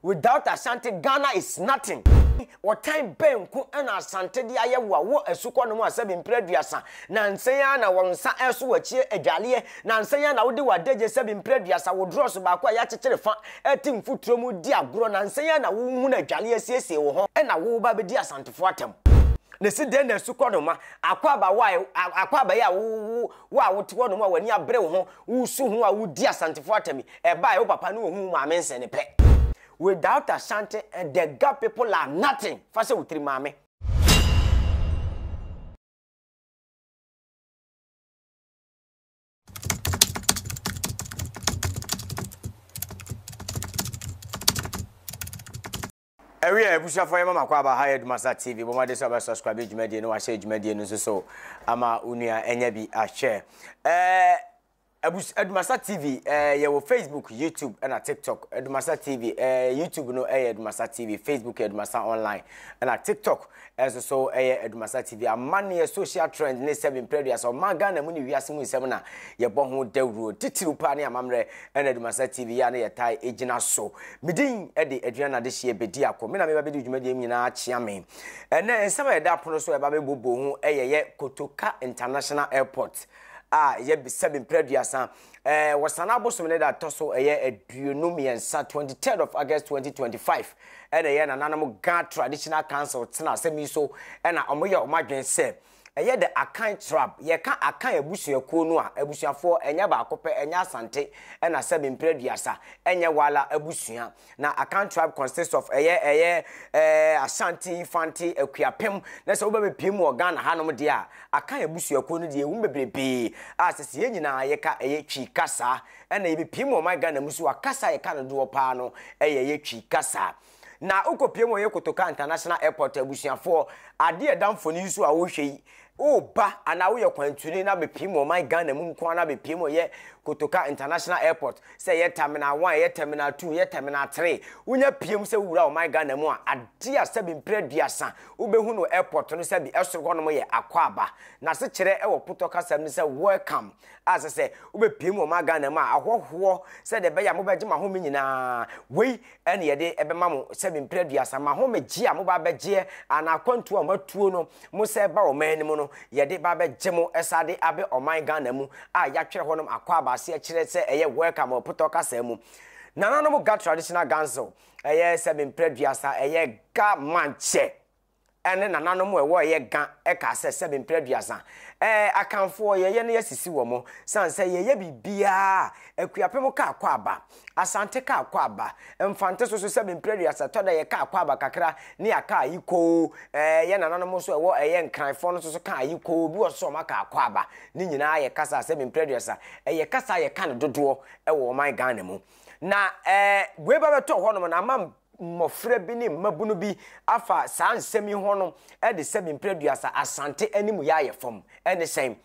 Without Asante Ghana is nothing. Ɔtan bɛn nko na Asante de ayɛ wo a wowɔ asukɔ nom a sɛbi mprɛ aduasa nansa yi ara na wo nsa ɛreso w'akyie adwaleɛ nansa yi ara na wode w'adagye sɛbi mprɛ aduasa wo drɔso baako a yɛakyekyere fa ɛte mfuturo mu di agorɔ nansa yi ara na wohunu adwaleɛ asiesie wo ho ɛna wo ba bɛdi Asantefoɔ atam na si dɛn na asukɔ nom a akɔ aba wo a akɔ aba yi a wo wo a wote hɔ nom a w'ani abere wo ho Wo su ho a wudi Asantefo atam yi, ɛbae, wo papa ne wo huu maame nsɛne pɛ. Without Ashanti and the Ga people are nothing, fa hyɛ wo tiri maame. Ɛwɛ a abusuafoɔ yɛma makɔ aba ha yɛ Dumasa TV bɔ mmɔden sɛ ɔbɛ subscribe dwumadie no wahyɛ dwumadie no nso so ama onua ɛnyɛ bi ahwɛ ɛɛ abus Dumasa TV ɛɛ yɛwɔ Facebook YouTube ɛna TikTok Dumasa TV ɛɛ YouTube no ɛyɛ Dumasa TV Facebook yɛ Dumasa online ɛna TikTok Ɛnso so ɛyɛ Adumasa TV amanneɛ social trend ne sɛbi mprɛduasa ɔman Ghana mu ne wiase mu nsɛm na yɛbɔ ho dawuro titiriw paa ne amammerɛ ɛna Adumasa TV yɛ a na yɛtae egyina so. Medin ɛde Aduan Adehyeɛ Bedi Ako. Me na meba bedi dwumadie mu nyinaa akyea me. Ɛnɛ nsɛm a yɛda apono so ɛba bɛbobɔ ho ɛyɛ yɛ Kotoka International Airport a ɛyɛ sɛbi mprɛduasa ɛɛ wɔsan abosom ne da ɛtɔ so ɛyɛ aduonu mmiɛnsa twenty third of august twenty twenty five ɛna ɛyɛ nananom ghana traditional council tena asɛm yi so ɛna wɔyɛ wɔn adwene sɛ ɛyɛ the akan trap yɛka akan abusuakuo no a abusuafoɔ ɛnyɛ baako pɛ ɛnyɛ asante ɛna sɛbi mpere duasa ɛnyɛ wala abusua na Akan tribe consists of ɛyɛ ɛyɛ ɛɛ Ashanti, Fanti, Akuapem na sɛ wobɛ bɛpiem wɔ Ghana hanom deɛ a Akan abusuakuo no deɛ ɛwom bebrebee a sɛ sɛ yɛn nyinaa yɛka ɛyɛ Twi kasa ɛna yɛbɛpiem wɔ ɔman Ghana mu so a kasa a yɛka no doɔ paa no ɛyɛ ɛyɛ Twi kasa na wokɔpiem wɔ yɛ Kotoka International Airport abusuafoɔ adeɛ ɛda mfoni yi so a wohwɛ yi Woba anaa woyɛ kwantuni na bepiem wɔ ɔman Ghana mu nko ara na bepiem wɔ yɛ Kotoka International Airport, sɛ ɛyɛ Terminal One, ɛyɛ Terminal Two, ɛyɛ Terminal Three, wonya piem sɛ wowura ɔman Ghana mu a, adeɛ a sɛbi mprɛ aduasa wobɛhu no wɔ airport no sɛbi ɛsoro hɔ nom yɛ Akwaaba. N'asekyerɛ wɔ Potɔ kasam ne sɛ Welcome a sɛ sɛ wobɛpiem wɔ ɔman Ghana mu a, ahɔhoɔ sɛdeɛ ɛbɛyɛ a mobɛgye mo ahome nyinaa. Wei ɛne yɛde ɛbɛma mo sɛ me mpere aduasa ma ho megye a mo ba bɛgyeɛ anaa akwantuo a mo atuo no mo sɛ ba ɔman anim no yɛde ba bɛgye mo ɛsa de abɛ ɔman Ghana mu a yɛatwerɛ hɔnom akɔ abaase akyerɛ sɛ ɛyɛ welcome wɔ potɔ kasaa mu nananom ga traditional ganso ɛyɛ sɛ me mpere aduasa ɛyɛ ga mankyɛ ne nananom a ɛwɔ yɛ ga ɛkaa sɛ sɛbe mprɛ aduasa ɛɛ akanfoɔ yɛyɛ no yɛsisi wɔ mo san sɛ yɛyɛ biribiaa akuapem kaa kɔ aba asante kaa kɔ aba mfante so so sɛbe mprɛ aduasa tɔ da yɛ kaa kɔ aba kakra ne yɛ kaa yi koo ɛɛ yɛ nananom nso ɛwɔ ɛyɛ nkranfoɔ no so so kaa yi koo bi wɔ so ɔma kaa kɔ aba ne nyinaa yɛ kasa sɛbe mprɛ aduasa ɛyɛ kasa yɛ ka no dodoɔ ɛwɔ ɔman Ghana mu na ɛɛ wei ba bɛtɔ hɔ nom na ama mmɔfra bi ne mmabunu bi afa saa nsɛm yi ho no de sɛ me mpere duasa asante anim yɛ ayɛ fam ɛne sɛn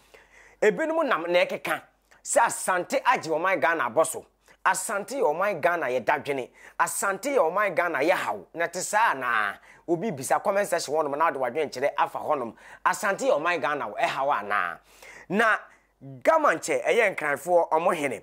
ebinom nam na ɛkeka sɛ asante agye ɔman ghana abɔ so asante yɛ ɔman ghana yɛ dadwene asante yɛ ɔman ghana yɛ haw na te saa anaa obi bisa comment section hɔnom na ɔde wadwenkyerɛ afa hɔnom asante yɛ ɔman ghana ɛhaw anaa na Gaman kyɛ ɛyɛ Nkranfoɔ ɔmo hene.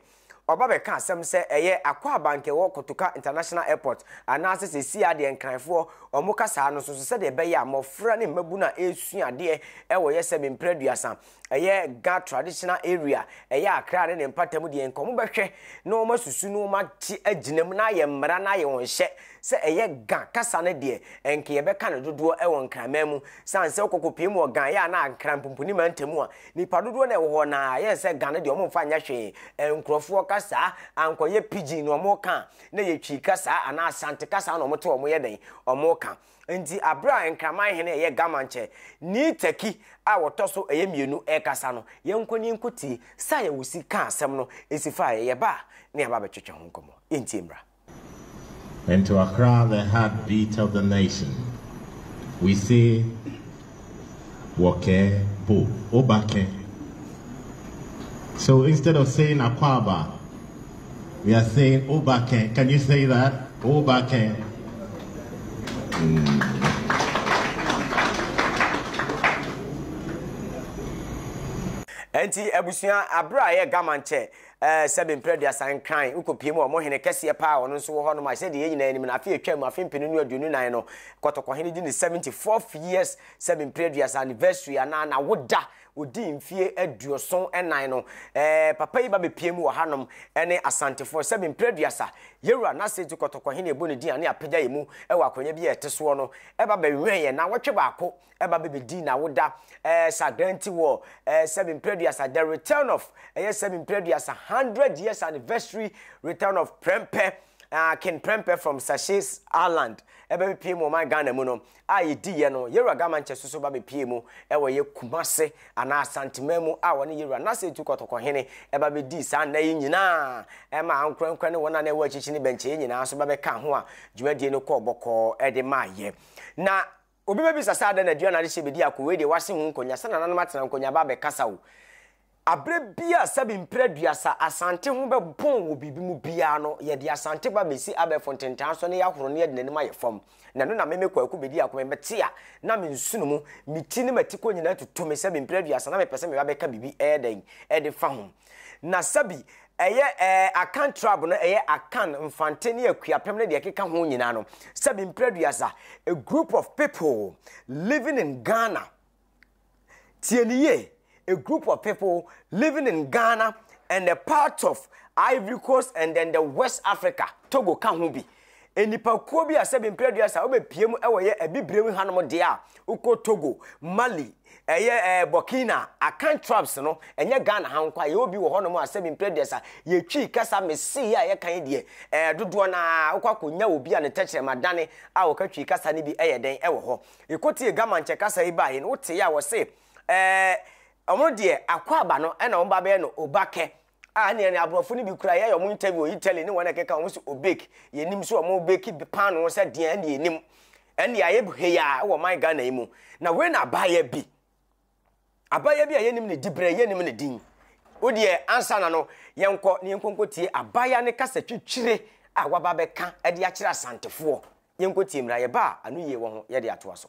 Ɔba bɛka asɛm sɛ ɛyɛ Akwaaba nka ɛwɔ Kotoka International Airport anaasɛ seesei ara deɛ Nkranfoɔ ɔmo ka saa no soso sɛdeɛ ɛbɛyɛ a mmɔfra ne mmabunu a ɛresua adeɛ ɛwɔ yɛ sɛ mprɛ aduasa ɛyɛ Ga Traditional Area ɛyɛ Akra ne ne mpatam deɛ nka ɔmo bɛhwɛ na ɔmo asusu na ɔmo ate agyina mu na ayɛ mmara na ayɛ wɔn hyɛ sɛ ɛyɛ Ga kasa no deɛ ɛnka yɛbɛka no dodoɔ ɛwɔ Nkraman mu sane sɛ wokɔ kɔpie mu wɔ Ga ɛyɛ a na Nkran pumpuni mantam a Nipa dodoɔ na ɛwɔ hɔ na yɛn sɛ Ghana deɛ ɔmo nfa nyɛ hwee nkorɔfoɔ kasa ankɔyɛ pidgin na ɔmo ka na yɛ twi kasa anaa asante kasa na ɔmo te ɔmo yɛ dɛn ɔmo ka nti abira nkraman hene ɛyɛ gamankyɛ ni tɛki a wɔtɔ so ɛyɛ mienu ɛkasa no yɛn nkɔ ni nkɔ tie sa yɛ wosi ka asɛm no esi fa yɛ yɛ ba ne aba bɛtwetwe ho nkɔmɔ yɛn tie mmra. Nti wakra the heart beat of the nation we say wɔ kɛ bo oba kɛ so instead of saying akwaaba we are saying oba kɛ can you say that oba kɛ mm. Nti abusua abere a yɛ gaman kyɛ Ɛɛ, sɛbe mprɛ aduasa nkran, wokɔpie mu a, wɔn hene kɛseɛ paa a ɔno nso wɔ hɔnom a, sɛdeɛ yɛn nyinaa nim no, afe a ɛtwaam mu, afe mpenu ne aduonu nnan no, kɔtɔkɔhene dii ne seventy fourth years, sɛbe mprɛ aduasa anniversary anaa n'awoda, ɔdii mfeɛ aduoson nnan no. Ɛɛ, papa yi ba bɛpie mu wɔ hanom ne Asantefoɔ, sɛbe mprɛ aduasa, yɛn wura n'ase nti kɔtɔkɔhene a yɛbɔ ne din a ne apagya yɛn mu wɔ akwanya bi a ɛte soɔ no, ɛba bɛwɛn yɛn nnawɔtwe baako ɛba bɛbɛdii n'awoda ɛɛ sa dan nti wɔ ɛɛ sɛbi mprɛduasa the return of ɛyɛ sɛbi mprɛduasa hundred years anniversary return of prɛmpɛ uh, Ken Prempeh from Sachets Island ɛbɛ bɛpie mu ɔman Ghana mu no a yɛdi yɛ no yɛwura gama nkyɛ soso ba bɛpie mu ɛwɔ yɛ Kumase anaa Asantema mu a wɔne yɛwura n'asɛ tu kɔtɔkɔ hene ɛba bɛdi saa nna yi nyinaa ɛma ankorankora ne wɔn a na ɛwɔ akyikyi ne bɛnkyɛ yɛ nyinaa so ba bɛka ho a dwumadie no kɔɔ bɔkɔɔ ɛde maa yɛ na Obi bɛbisa sɛ adɛn na aduane a ade hye bɛdi ako, wei deɛ wɔase ho nkɔnya, sɛ nananom atena nkɔnya ba abɛkasa o. Aberɛ bi a sɛbe mpire aduasa Asante ho bɛbɔn wɔ biribi mu biara no, yɛde Asante ba bɛsi abɛɛfo ntentan so na yɛahoro no yɛde n'anim ayɛ fam. Na ɛno na me me Kwaku bɛdi ako, mebɛte a na me nsono mu, me ti ne m'atikɔ nyinaa tutu me sɛbe mpire aduasa na mepɛ sɛ meba bɛka biribi, ɛyɛ dɛn, ɛde fa ho. Na sɛbi ɛyɛ ɛɛ Akan tribe no ɛyɛ Akan, Mfante ne Akuapem ne deɛ ɛkeka ho nyinaa no, sɛbi mprɛduasa, a group of people living in Ghana. Tie ne yie, a group of people living in Ghana and a part of Ivory Coast and then the West Africa, Togo ka ho bi. Nnipakuo bi a sɛbi mprɛ aduasa wobɛpie mu wɔ yɛ abibire mu hanom deɛ a wokɔ Togo, Mali, ɛyɛ ɛɛ Burkina, Akan tribes no, ɛnyɛ Ghana ha nkwa, yɛwɔ bi wɔ hɔnom a sɛbi mprɛ aduasa yɛtwi kasa mesii a yɛka yi deɛ ɛɛ dodoɔ no ara wokɔ akɔnya obi a ne tɛkyerɛma dane a wɔka twi kasa no bi ɛyɛ dɛn ɛwɔ hɔ. Yɛkɔtie Gamankyɛ kasa yi baeɛ no woteeɛ a wɔse ɛɛ wɔn deɛ akwaaba no ɛna wɔn ba bɛyɛ no Obakɛ. a ɛne ɛne aborɔfo no bi kura yɛyɛ wɔn interview wɔ Italy ne wɔn ɛkeka wɔn sɛ obake yɛnim sɛ wɔn bake paano sɛ deɛ ɛne yɛnim ɛne ayɛ heya wɔ man Ghana yi mu na wei na abaayɛ bi abaayɛ bi a yɛnim ne dibrɛ yɛnim ne din wodeɛ ansa na no yɛnkɔ ne yɛnkɔnkɔ tie abaayɛ ne kasa twitwire a waba bɛka ɛde akyerɛ asantefoɔ yɛnkɔ tie mmra yɛba a ano yie wɔ ho yɛde atoa so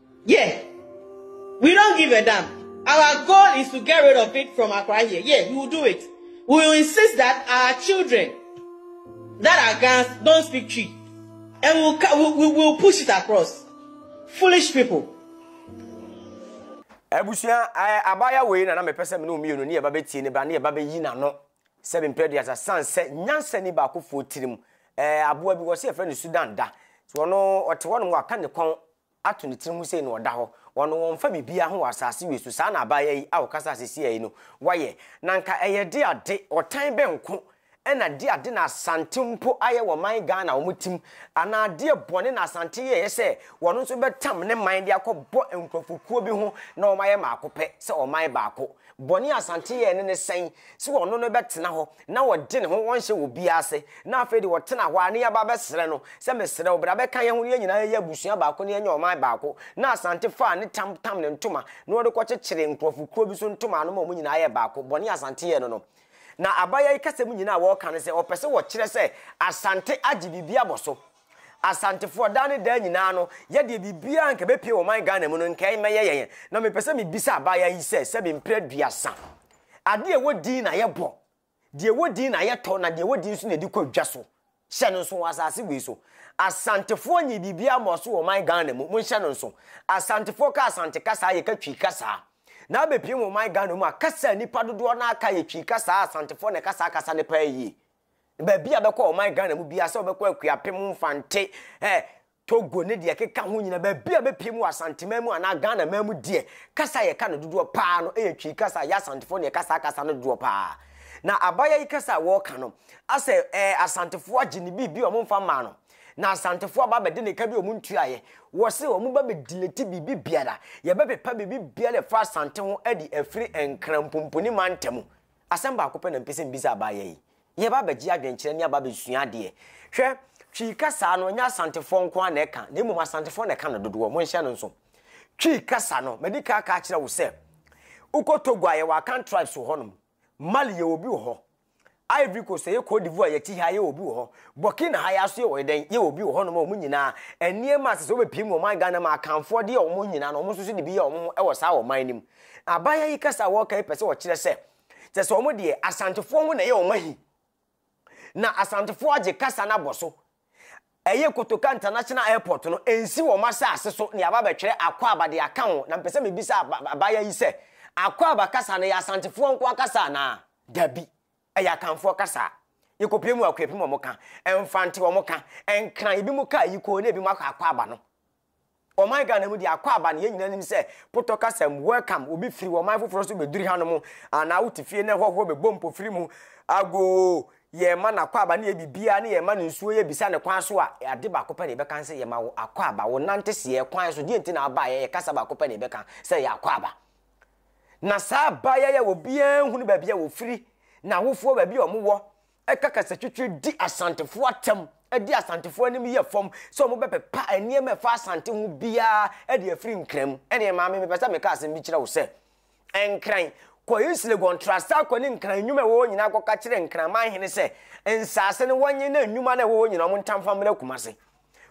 Yeah, we don't give a damn. Our goal is to get rid of it from Accra here. Yeah, we will do it. We will insist that our children that are Gans don't speak Twi. And we'll, we'll, we'll, we'll push it across. Foolish people. abusua eh, abaya wei na na mepɛ sɛ mene mmienu ne yɛba bɛtie ne ba ne yɛba bɛyi n'ano sɛ mempɛ de asa san sɛ nyansa ni baakofoɔ tirim eh, aboa bi wɔ sɛ yɛfrɛ no sudan da so ɔno ɔte hɔ nom waka ne kɔn ato ne tiri mu sei na ɔda hɔ, wɔno wɔmfa biribiara ho wɔ asase wei so, saa na abaayaa yi a ɔkasa sesia yi no wayɛ, na nka ɛyɛ de ade, ɔtan bɛ nko ɛna de ade na Asante mpo ayɛ wɔ man Ghana wɔn tim, anaa adeɛ bɔne na Asante yɛeɛ sɛ wɔno nso bɛtam ne man de akɔ bɔ nkurɔfokuo bi ho na wɔn ayɛ maako pɛ sɛ ɔman baako. Bɔne a Asante yɛe no ne sɛn? Sɛ ɔno no bɛtena hɔ na ɔgye ne ho ɔnhyɛ obiara ase na afei deɛ ɔtena hɔ ara na yɛba bɛsrɛ no sɛ mesrɛ wo bra bɛka yɛn ho na yɛn nyinaa yɛyɛ abusua baako na yɛnyɛ ɔman baako na Asante faa ne tam tam ne ntoma na ɔde kɔkyekyeree nkurɔfo kuo bi so ntoma ano ma wɔn nyinaa yɛɛ baako bɔne a Asante yɛe no no na Abaya yi kasɛm nyinaa a wɔreka no sɛ ɔpɛ sɛ ɔkyerɛ sɛ Asante agye biribi abɔ so Asantefoɔ daa ne daa nyinaa no yɛdeɛ biribiara anka ɛbɛpie wɔ ɔman Ghana mu no nka ɛmmɛyɛ yɛn na mepɛ sɛ mebisa abaayaa yi sɛ sɛbe mprɛ aduasa adeɛ ɛwɔ din na yɛbɔ deɛ ɛwɔ din na yɛtɔ na deɛ ɛwɔ din nso na ɛde kɔ dwa so hyɛ no nso wɔ asase wei so Asantefoɔ nyɛ biribiara mmɔɔ so wɔ ɔman Ghana mu monhyɛ no nso Asantefoɔ ka Asante kasaa yɛka Twi kasaa na abɛpie wɔ ɔman Ghana mu a kasa a nnipa dodoɔ no aka yɛ Twi kasaa Asantefoɔ na ɛka saa kasa no paa yie Baabi a bɛkɔ ɔman Ghana mu biara sɛ wɔbɛkɔ Akuapem, Mfante, eh, Togo ne deɛ ɛkeka ho nyina, baabi a bɛpie mu wɔ Asanteman mu anaa Ghana man mu deɛ, kasa a yɛka no dodoɔ paa no yɛ Twi kasa, yɛ Asantefoɔ na yɛka saa kasa no dodoɔ paa. Na Abaya yi kasa a wɔreka no, asɛ eh, Asantefoɔ agye ne biribi a wɔn mfa mmaa no, na Asantefoɔ aba abɛde ne ka bi a wɔn ntuaeɛ, wɔ se wɔn ba bɛdileti biribi biara, yɛbɛpepa biribi biara ɛfa Asante ho adi afiri Nkran Pumpuni Manta mu. Asɛm baako pɛ na mepɛ sɛ mibisa abaayewa yi. Yɛreba abɛgye adwenkyerɛ ne aba abɛsua adeɛ. Hwɛ, Twi kasa no, ɛnyɛ Asantefoɔ nko ara na ɛka, na mmom Asantefoɔ na ɛka no dodoɔ. Monhyɛ no nso. Twi kasa no, madi kan aka akyerɛ wo sɛ, wokɔ Togo a, yɛwɔ Akan tribes wɔ hɔnom. Mali, yɛwɔ obi wɔ hɔ. Ivory Coast, ɛyɛ Cote d'Ivoire, yɛte ha, yɛwɔ obi wɔ hɔ. Burkina ha, yɛn ara nso yɛwɔ dɛn? Yɛwɔ obi wɔ hɔnom a wɔn nyinaa, nneɛma a ɛsɛ sɛ wɔbɛpie mu wɔ ɔman Ghana mu a Akanfoɔ de yɛ wɔn nyinaa no, wɔn nso so de bi yɛ wɔn ho wɔ saa ɔman no mu. Abaayewa yi kasa a wɔreka yi pɛ sɛ ɔkyerɛ sɛ, kyerɛ sɛ wɔn deɛ Asantefoɔ ho na ɛyɛ wɔn ahi. Na Asantefoɔ agye kasa no abɔ so. Ɛyɛ Kotoka International Airport no, ɛnsi wɔn asase so na yɛaba abɛtwerɛ Akwaaba de aka ho. Na mepɛ sɛ mebisa abaayewa yi sɛ, Akwaaba kasa no, ɛyɛ Asantefoɔ nko ara kasa anaa? Dabi, ɛyɛ Akanfoɔ kasa. Yɛkɔpie mu a, Akuapem wɔn ka, Mfante wɔn ka, Nkran, ebinom ka Ayiko na ebinom aka Akwaaba no. Ɔman Ghana mu deɛ akwaaba no yɛn nyinaa nim sɛ potɔ kasam welcome obi firi ɔman foforɔ so bɛduri hanom anaa wote fie na hɔhoɔ bɛbɔ mpofiri mu agoo yɛn ma no akwaaba ne yɛ biribiara ne yɛn ma no nsuo yɛ bisa ne kwan so a ade baako pɛ na yɛbɛka ne sɛ yɛma wo akwaaba wo nante seɛ kwan so deɛ nti na abaeɛ yɛ kasa baako pɛ na yɛbɛka sɛ yɛ akwaaba na saa abaeɛ yɛ obiara nhunu baabi a wɔfiri na awofoɔ baabi a wɔwɔ ɛka kasatwitwi di Asantefoɔ atɛm, ɛde Asantefoɔ anim yɛ fam sɛ wɔbɛpepa nneɛma ɛfa Asante ho biara de afiri Nkran mu. Ɛneɛ maame mepɛ sɛ meka asɛm bi kyerɛ wo sɛ, Nkran, kɔ East Legon, tra saa kɔ ne Nkran nnwuma ɛwɔ hɔ nyinaa kɔka kyerɛ Nkran manhene sɛ nsaase no wɔnye na nnwuma no ɛwɔ hɔ nyinaa wɔn ntamfa mmra Kumase.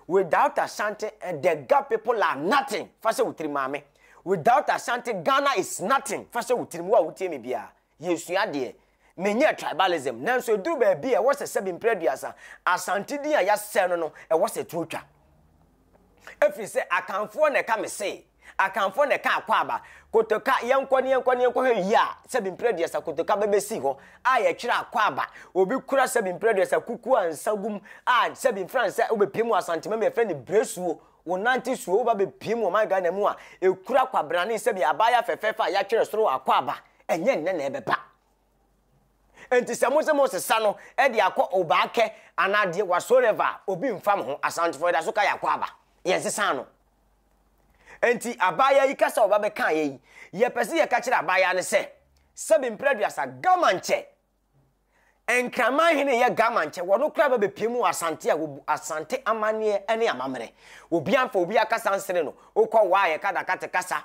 Without Asante, eh, the Ga people are nothing, fa hyɛ wo tirim maame. Without Asante, Ghana is nothing, fa hyɛ wo tirim, wo a wotie me biara. yɛsua deɛ, menyɛɛ tribalism, nanso ɛduru baabi a ɛwɔ sɛ sɛbi mprɛ aduasa, Asante din a yɛasɛe no no, ɛwɔ sɛ ɛto twa. Ɛfiri sɛ Akanfoɔ na ɛka me se, Akanfoɔ na ɛka Akwaaba, Kotoka, yɛnkɔ ne yɛnkɔ ne yɛnkɔhwɛ wie a, sɛbi mprɛ aduasa Kotoka bɛbɛsi hɔ a yɛkyerɛ Akwaaba, obi kura sɛbi mprɛ aduasa kuku a nsa gum a sɛbi mfra nsa wobɛpie mu Asantema mu yɛfrɛ no Bresuo, wonante suo woba bɛpie mu ɔman Ghana mu a ɛkura kwabrane sɛbi abaayewa fɛfɛɛfɛ a yɛatwerɛ soro Akwaaba. ɛnyɛ nnɛ na ɛbɛba nti sɛ mo sɛ mo sesa no ɛde akɔ obaakɛ anaa deɛ whatsoever obi nfa mo ho asantefo ɛda so ka yɛ akɔ aba yɛn sesa no nti abaayewa yi kasa ɔba bɛka yɛ yi yɛpɛ sɛ yɛka kyerɛ abaayewa no sɛ sɛbi mpere aduasa gama nkyɛ nkraman hene yɛ gama nkyɛ wɔn kora bɛ bɛpie mu asante a wɔbu asante amanneɛ ne amammerɛ obi anfa obi akasa nsene no wokɔ waa yɛ kadakate kasa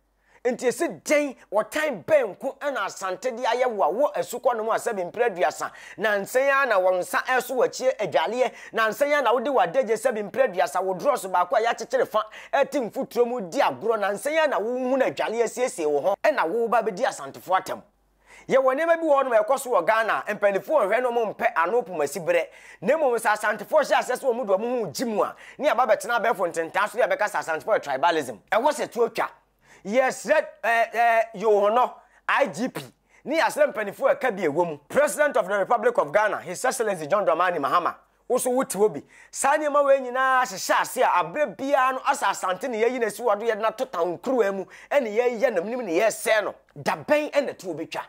Enti ese dɛn? Ɔtan bɛn nko na Asante de ayɛ wo a wowɔ asukɔ no ho a sɛbe mpere aduasa? Nansa yi ara na wo nsa reso w'akyie adwaleɛ. Nansa yi ara na wode w'adagye sɛbe mpere aduasa, wo drɔso baako a yɛakyekyere fa te mfuturo mu redi agorɔ. Nansa yi ara na wohunu adwaleɛ asiesie wo ho na woreba abɛdi Asantefoɔ atam. Yɛwɔ nneɛma bi wɔ hɔnom a ɛkɔ so wɔ Ghana a mpanimfoɔ nhwɛ no, wɔmpɛ ano pomasi berɛ. Na mmom sɛ Asantefoɔ hyɛ aseɛ sɛ wɔn de wɔn ho regye mu a, ne yɛaba abɛtena abɛɛfo ntentaa so ne yɛbɛka sɛ Asantefoɔ yɛ tribalism. Ɛwɔ sɛ tuo twa. Yɛsrɛ eh, eh, Yowhono, IGP, ne yɛasrɛ mpanimfoɔ a ɛka bi a ɛwɔ mu, President of the Republic of Ghana, His Excellency John Dramani Mahama, Wo nso wote hɔ bi. Saa nneɛma wei nyinaa hyehyɛ ase a, aberɛ biara no asɛ asante na yɛayi no asi hɔ a, do yɛde no ato tawnkuruwa mu na yɛreyɛ nam nim na yɛresɛe no. Da bɛn na tuo bɛtwa?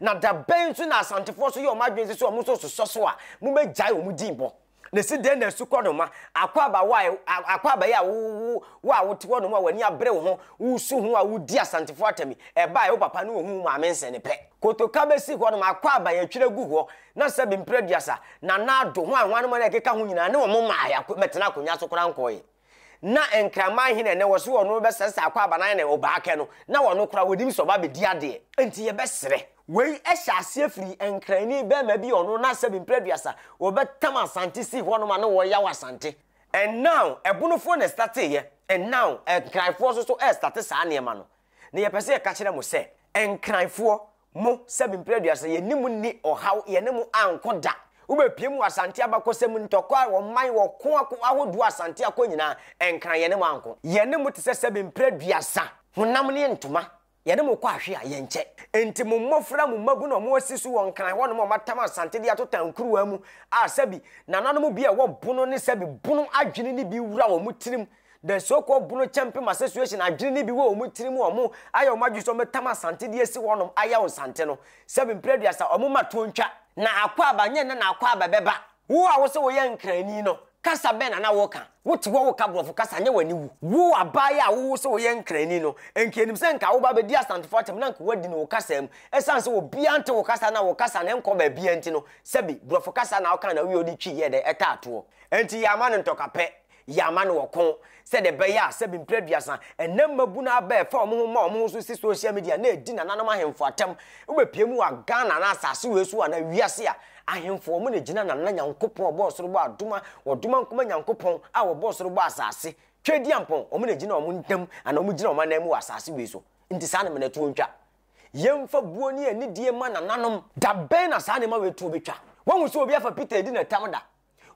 Na da bɛn nso na Asantefoɔ nso yɛ wɔn adwene sɛ sɛ wɔn nso resosɔ so a, mobɛgyae wɔn din bɔ? Na ɛsi dɛn na asukɔ noma, akwaaba wo a, akwaaba yi a wo, wo, wo a wote hɔnom a w'ani abere wo ho, woresu ho a woredi Asantefoɔ atam yi, ɛbaeɛ wo papa ne ɔhuu wo maame nsɛne pɛ. Kotoka bɛsi hɔnom, akwaaba yɛatwiri agu hɔ, Na sɛbe mpire aduasa, na Nado, hwan, hwan mo na ɛkeka ho nyinaa, ne wɔn mmaa yɛ ako, mmɛtena akonnwa so koraa nkɔɔye. Na nkraman he na ɛnnɛ wɔ se wɔn bɛsɛsɛ akɔ abanan ne ɔbaa kɛ no, na wɔn koraa wɔnim sɛ ɔba abɛdi adeɛ. Nti yɛbɛserɛ. Wei hyɛ aseɛ firi Nkrani bɛɛma bi a ɔno na sɛbe mpire aduasa wɔbɛtam Asante sii hɔnom a na wɔɔya wɔ Asante. And now Ɛbonofoɔ na ɛstateeɛ, and now Nkranfoɔ nso so ɛɛstate saa nneɛma no. Na yɛpɛ sɛ yɛka kyerɛ mo sɛ, Nkranfoɔ, Mo, Sɛbi Mprɛ Aduasa, Yɛne mo nni ɔhaw, yɛne mo anko da. Wobɛpiam wɔ Asante abakɔsɛm, ntɔkwa a wɔman wɔ ko ako ahodoɔ Asante akɔ nyinaa, ɛnkra yɛne mo anko. Yɛne mo te sɛ Sɛbi Mprɛ Aduasa, honam ne ntoma, yɛne mo kɔ ahwe a, yɛnkyɛ. Enti mo mmɔfra, mo mmabunu a wɔasi so wɔ Nkran hɔnom a wɔatam Asante de ato tan kuruwaa mu a, sɛbi, nananom bi a wɔbono ne sɛbi, bono adwene no bi wura wɔn tirim, The so-called Bono Champim Association adwene no bi wɔ wɔn tiri mu a wɔn ayɛ wɔn adwene sɛ wɔbɛtam Asante de asi hɔnom ayɛ wɔn Sante no sɛ mprɛduasa wɔn mma toɔ ntwa. Na Akwaaba, nyɛ nnɛ na Akwaaba bɛba. Wo a wose woyɛ Nkrani no, kasa bɛn na na woka? Wote hɔ woka Borɔfo kasa, nyɛ w'ani wu. Wo abaayewa a wowose woyɛ Nkrani no, nka yɛnim sɛ nka woba abɛdi Asantefo atɛm na nka woadi no wo kasa mu. Ɛsiane sɛ obiara nte wo kasa na wo kasa no nkɔ baabiara nti no, sɛbi, Borɔfo kasa na woka na woyɛ wode twi yɛɛ dɛn? Ɛtaa toɔ. Enti yɛama no ntɔkapɛ. Yɛ ama no ɔko sɛdeɛ ɛbɛyɛ a sɛbi mprɛ aduasa ɛnɛ mmabunu aba ɛfa wɔn ho ma wɔn ho so si social media na ɛdi nananom ahemfo atɛm. Wobɛpie mu wɔ Ghana anaa asase wei so anaa wiase a, ahemfo wɔn na ɛgyina Nana Nyankopɔn a ɔbɔɔ soro bɔɔ adoma ɔdoma nkoma Nyankopɔn a ɔbɔɔ soro bɔɔ asase Tweadiampɔn wɔn na ɛgyina wɔn ntam anaa wɔn gyina wɔn anan mu wɔ asase wei so. Nti saa nneɛma no ɛtoɔ ntwa. Yɛmfa buo ne anidie ma nananom. Da bɛn na saa nneɛma wei toɔ bɛtwa? Woahu sɛ obi afa Peter adi no ɛtam da?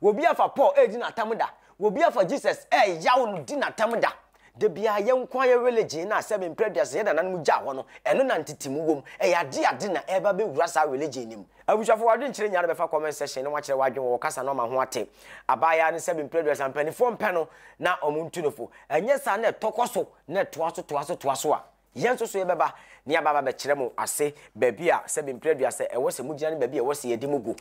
Wobi afa Paul edi no atam da. Wobi afa Jesus ɛɛyaw no di no atam da. Da biara yɛn nko ara yɛ religion no a sɛbe mprɛ aduasa sɛ yɛn nananom gyaa hɔ no, ɛno na ntetemu wom. Ɛyɛ ade a ade na ɛreba abɛwura saa religion no mu. Abusuafo, w'adwenkyerɛ nyinaa no bɛfa comment section na woakyerɛ w'adwene wɔ ɔkasa no ama ho ate. Abaayaa no sɛbe mprɛ aduasa mpaninfoɔ mpɛ no na wɔntu no fo. Ɛnyɛ saa na ɛtɔ kɔ so na ɛtoa so toa so toa so a. Yɛn nso so yɛbɛba na yɛaba abɛkyerɛ mo ase baabi a sɛbe mpire aduasa ɛwɔ sɛ mogyina ne baabi a ɛwɔ sɛ yɛde mo gu.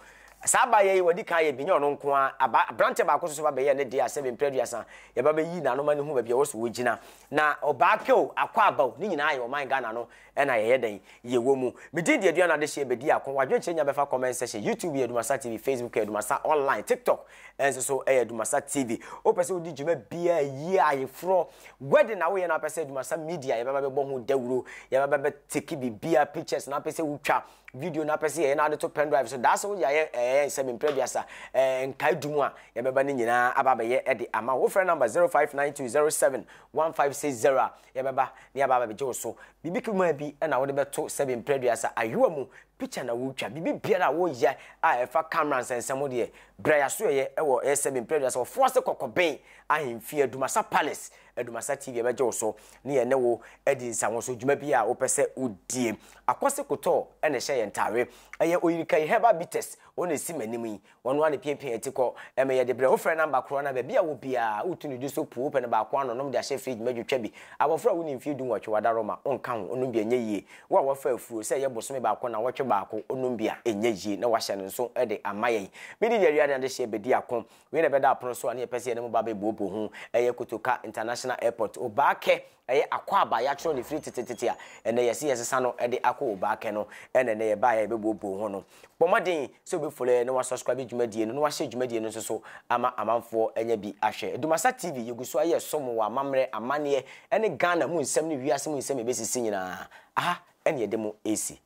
Saa abaayɛ yi, wɔadi kan ayɛ bi, nyɛ ɔno nko ara. Aba, aberanteɛ baako nso so ba bɛyɛɛ ne deɛ a sɛbe mpire aduasa yɛba bɛyi n'ano ma no hu baabi a ɛwɔ sɛ ɔgyina. Na Ɔbaapɛ o, Akwaaba o, ne nyinaa yɛ ɔman Ghana no na yɛyɛ dɛn? Yɛwɔ mu. Me din de Aduana Adehyeɛ, bɛdi ako. W'adwenkyerɛ nya bɛfa comment section, YouTube yɛ Dumasa TV, Facebook yɛ Dumasa Online, TikTok ɛnso so ɛyɛ adumasa tv wopɛ sɛ wodi dwuma biaa yie ayeforɔ wedding na woyɛ no apɛ sɛ adumasa media yɛbɛba bɛbɔ ho dawuro yɛbɛba bɛteki biribiaa pictures na apɛ sɛ wotwa video na apɛ sɛ yɛyɛ no ade to pen drive so daa sɛ woyɛ ayɛ ɛyɛ nsɛm mprɛ duasa nkae du mu a yɛbɛba no nyinaa aba bɛyɛ de ama wo frɛ number 0592071560 a yɛbɛba ne yɛbɛba bɛgye wo so biribi kumaa bi na wode bɛto sɛ mprɛ duasa ayewa mu Picture na wotwa. Biribi biara a woyɛ a ɛfa camera nsɛnsɛm ho deɛ, bra y'asoɛeɛ ɛwɔ ASM Mprɛ Aduasa wɔ Foase Kɔkɔben Ahemfie Adumasa Palace. Adumasa TV ɛbɛgye wo so ne yɛne wo adi nsawoso dwuma biara a wopɛ sɛ wodie. Akwasi Kotɔɔ ɛna ɛhyɛ yɛn ntaare. Ɛyɛ Oyirikayi Herbal Bitters, wɔn na ɛsi m'anim yi. Wɔn ara na epiapia yɛn ti kɔ. Ɛmɛ yɛde brɛ. Wofrɛ namba koro anaa baabi a wɔ biara a, wotu no di so puw. Wopɛ no baako ano, nom de ahyɛ fridge mu adwotwa bi. Abofra a wonni mfe dunwɔtwe, wadaroma, onka ho, onom bi a ɛnyɛ yiye. Wo a woafa afuro, sɛ ɛyɛ bosome baako anaa ɔwɔtwe baako, onom bi a ɛnyɛ yiye na wahyɛ no nso de ama yɛn. Midi de awia ne adehyeɛ bedi ako. Wei na ɛbɛda apono so a na yɛpɛ sɛ yɛne mo ba bɛbuobuo ho. Ɛyɛ Kotoka International Airport, Obaakɛ. Ɛyɛ akwaaba a yɛatwerɛ no firi tetetete a ɛnnɛ yɛse yɛsesa no de akɔ Obaakɛ no na ɛnnɛ yɛbaeɛ a yɛbɛbuobuo ho no. Bɔ mmɔden sɛ wobɛfollow yɛn na woasubscribe dwumadie no na woahyɛ dwumadie no nso so ama amanfoɔ anya bi ahwɛ. Dumasa TV, yɛgu so ayɛ som wɔ amammerɛ, amanneɛ ne Ghana mu nsɛm ne wiase mu nsɛm a ɛbɛsisi nyinaa, aha na yɛde mo resi.